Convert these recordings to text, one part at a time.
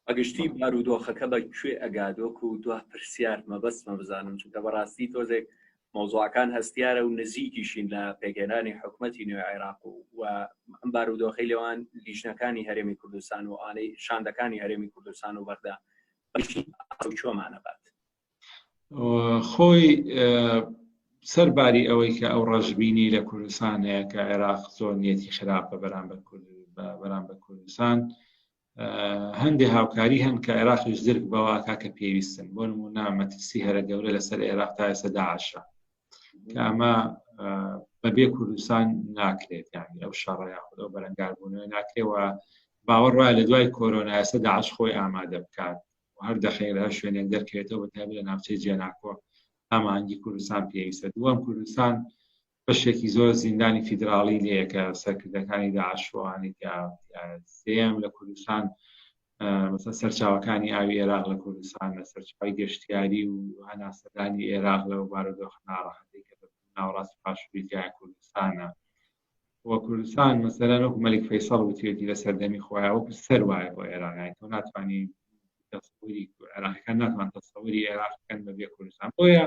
بەگشتی بارودۆخەکە بە کوێ ئەگادۆک و دو پرسیار مەبەستمە بزانم چونکە بەڕاستی تۆزێک مۆزوعەکان هەستیارە و نزیکیشین لە پێگەێنانی حکوومەتی نوێ عێراق و و ئەم بارودۆخی لەوان لیژنەکانی هەرێمی کوردستان و ئانەی شاندەکانی هەرێمی کوردستان و بەغدا چۆمانەبات خۆی سەرباری ئەوەی کە ئەو ڕژبینی لە کوردستان هەیە کە عێراق زۆر نیەتی خراپە بەرامبەر بەرامبەر کوردستان هەندێک هاوکاری هەن کە عێراقیش درک بەواکە کە پێویستن بۆ نمونە مەترسی هەرە گەورە لەسەر عێراق تا ئێستا داعشە کە ئەمە بەبێ کوردستان ناکرێت یانی ئەو شەڕەیە خودەو بەرەنگاربوونەوە ناکرێەوە باوەڕ وایە لە دوای کۆرۆنا ئێستا داعش خۆی ئامادە بکات هەر دەخەیل هەر شوێنێک دەرکەوێتەوە بەتابێت لە ناوچەی جێناکۆ ئامانگی کوردستان پێویستە دووەم کوردستان بەشێکی زۆر زیندانی فیدراڵی لێیە کە سەرکردەکانی داعش ڕوانێک یا سێم لە کوردستان مثلا سەرچاوەکانی ئاوی عێراق لە کوردستان لە سەرچاوی گەشتیاری و هەناسەدانی عێراق لە بارودۆخ ناڕەحەتی کە ناوڕاست پاشوریتیای کوردستانە و کوردستان مەسەرە نۆک مەلیک فەیسەڵ وتێتی لە سەردەمی خۆیان وەکو سەر وایە بۆ عێراقی تۆ ناتوانانی تەسەوری عێراقەکان ناتوان تەسەوری عێراقەکەن بەبێ کوردستان بۆیە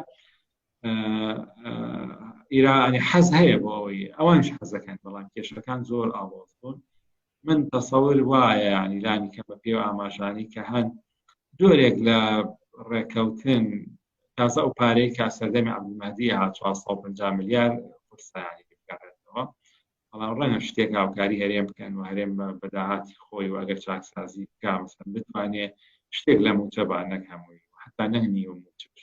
ئیرانی حەز هەیە بۆ ئەوەی ئەوانش حەزەکەن بەڵام کێشەکان زۆر ئاڵۆز بوون من تەسەور وایە ینیلانی کە بە پێ ئاماژانی کە هەن جۆرێک لە ڕێکەوتن تازە ئەو پارەی کا سەردەمی عبدمەدی ها 450 میلیار قورسانی بکارێتەوە بەڵام ڕەنگە شتێک هاوکاری هەرێم بکەن و هەرێم بە داهاتی خۆی و ئەگەر چاکسازی بکمەسەن بتوانێت شتێک لە موچە بە نەک هەمووی حتا نەنی و موچش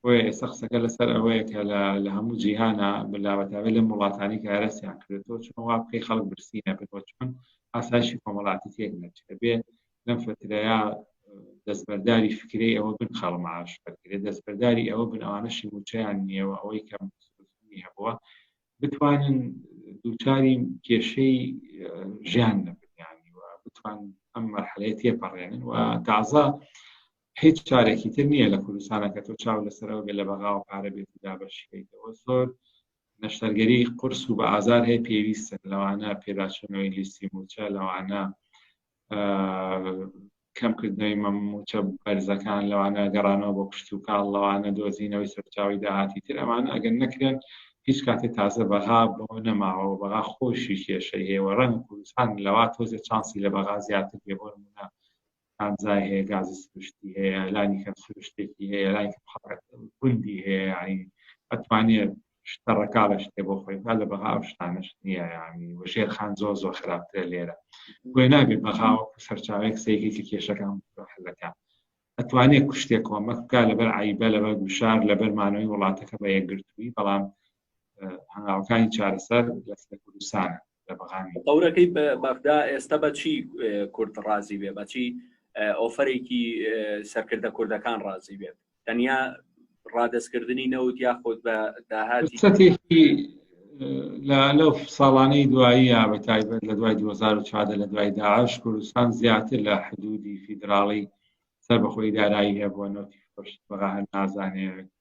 بۆیە ئێستا قسەکە لەسەر ئەوەیە کە لە هەموو جیهانە بەلاوەتاوێت لەم وڵاتانی کە هەرسیان کردێتەوە چۆن وا بکەی خەڵک برسی نەبێتەوە چۆن ئاسایشی کۆمەڵاتی تێک نەچێت بێ لەم فترەیە دەستبەرداری فکری ئەوە بن خەڵ معاش بەرگێت دەستبەرداری ئەوە بن ئەوانەشی موچیان نیەوە ئەوەی کەم هەبووە بتوانن دووچاری کێشەی ژیان نەبنیانی و بتوان ئەم مەرحەلەیە تێپەڕێنن و تازە هیچ چارێکی تر نییە لە کوردستانە کە تۆ چاو لەسەر ئەوگە لە بەغاوە پارە بێت و دابەشیکەیتەوە زۆر نەشتەرگەری قرس و بە ئازار هەیە پێویستن لەوانە پێداچوونەوەی لیستی موچە لەوانە کەمکردنەوەی مەموچە بەرزەکان لەوانە گەڕانەوە بۆ کشت و کاڵ لەوانە دۆزینەوەی سەرچاوی داهاتی تر ئەمان ئەگەر نەکرێن هیچ کاتێ تازە بەغا بۆ نەماوە بەغا خۆشی کێشەی هەیە ڕەنگ کوردستان لەوا تۆزێ چانسی لە بەغا زیاتر بێ بۆ نمونە کانزای هەیە گازی سروشتی هەیە لانی کەم سروشتێکی هەیە لانی کەم حەڕەکەت گوندی هەیە یعنی ئەتوانێت شتە ڕەکاڵە شتێ بۆ خۆی بکات لە بەغا ئەو شتانەش نییە یعنی و ژێرخان زۆر زۆر خراپترە لێرە بۆی نابێت بەغا وەکو سەرچاوەیەک سەیری کە کێشەکان حلەکە ئەتوانێت کوشتێک کۆمەک بکات لەبەر عیبە لەبەر گوشار لەبەر مانەوەی وڵاتەکە بە یەکگرتووی بەڵام هەنگاوەکانی چارەسەر لە کوردستانە لە بەغانی تەورەکەی بەغدا ئێستا بەچی کورد ڕازی بێ بەچی ئۆفرێکی سەرکردە کوردەکان ڕازی بێت تەنیا ڕادستکردنی نەوت یاخود بە داهاتی لەو ساڵانەی دوایی یا بە تایبەت لە دوای 2014 لە دوای داعش کوردستان زیاتر لە حدودی فیدراڵی سەر بەخۆی دارایی هەبووە نەوتی فرۆشت بەغا هەر نازانێت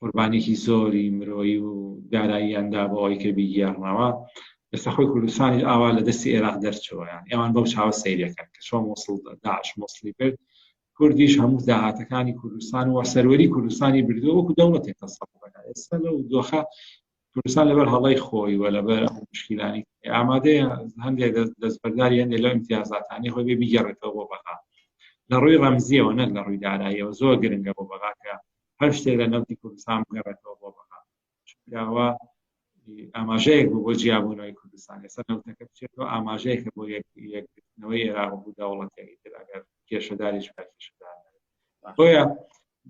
قوربانیەکی زۆری مرۆیی و داراییان دا بۆ ئەوەی کە بیگێڕنەوە ئێستا خۆی کوردستانیش ئاوا لە دەستی عێراق دەرچەوە یان ئەوان بەو چاوە سەیرەکەن کە چۆن موسڵ داعش موسڵی کرد کوردیش هەموو داهاتەکانی کوردستان و سەروەری کوردستانی بردو وەکو دەوڵەتێک تەسەڵەکە ئێستا لەو دۆخە کوردستان لەبەر هەڵی خۆی وە لەبەر ئەو مشکیلانی ئامادەیە هەندێک دەستبەرداری هەندێک لەو امتیازاتانی خۆی بێ بیگەڕێتەوە بۆ بەغا لە ڕووی ڕەمزیەوە نەک لە ڕووی داراییەوە زۆر گرنگە بۆ بەغاکە هەر شتێک لە نەوتی کوردستان بگەڕێتەوە بۆ بەغا چونکەوە ئاماژەیەک بوو بۆ جیابوونەوەی کوردستان ئێستا نەوتەکە بچێتەوە ئاماژەیەکە بۆ یەکگرتنەوەی عێراق بوو دەوڵەتەکەی تر ئەگەر کێشەداری شکاکیشدار بۆیە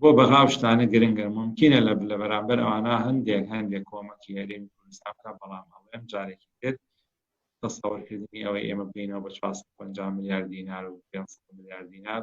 بۆ بەغا شتانە گرنگە ممکنە لە لە بەرامبەر ئەوانە هەندێک هەندێک کۆمەکی هەرێمی کوردستان بکە بەڵام هەڵێم جارێکی تر تەسەوەرکردنی ئەوەی ئێمە بینەوە بە 450 میلیارد دینار و 500 میلیارد دینار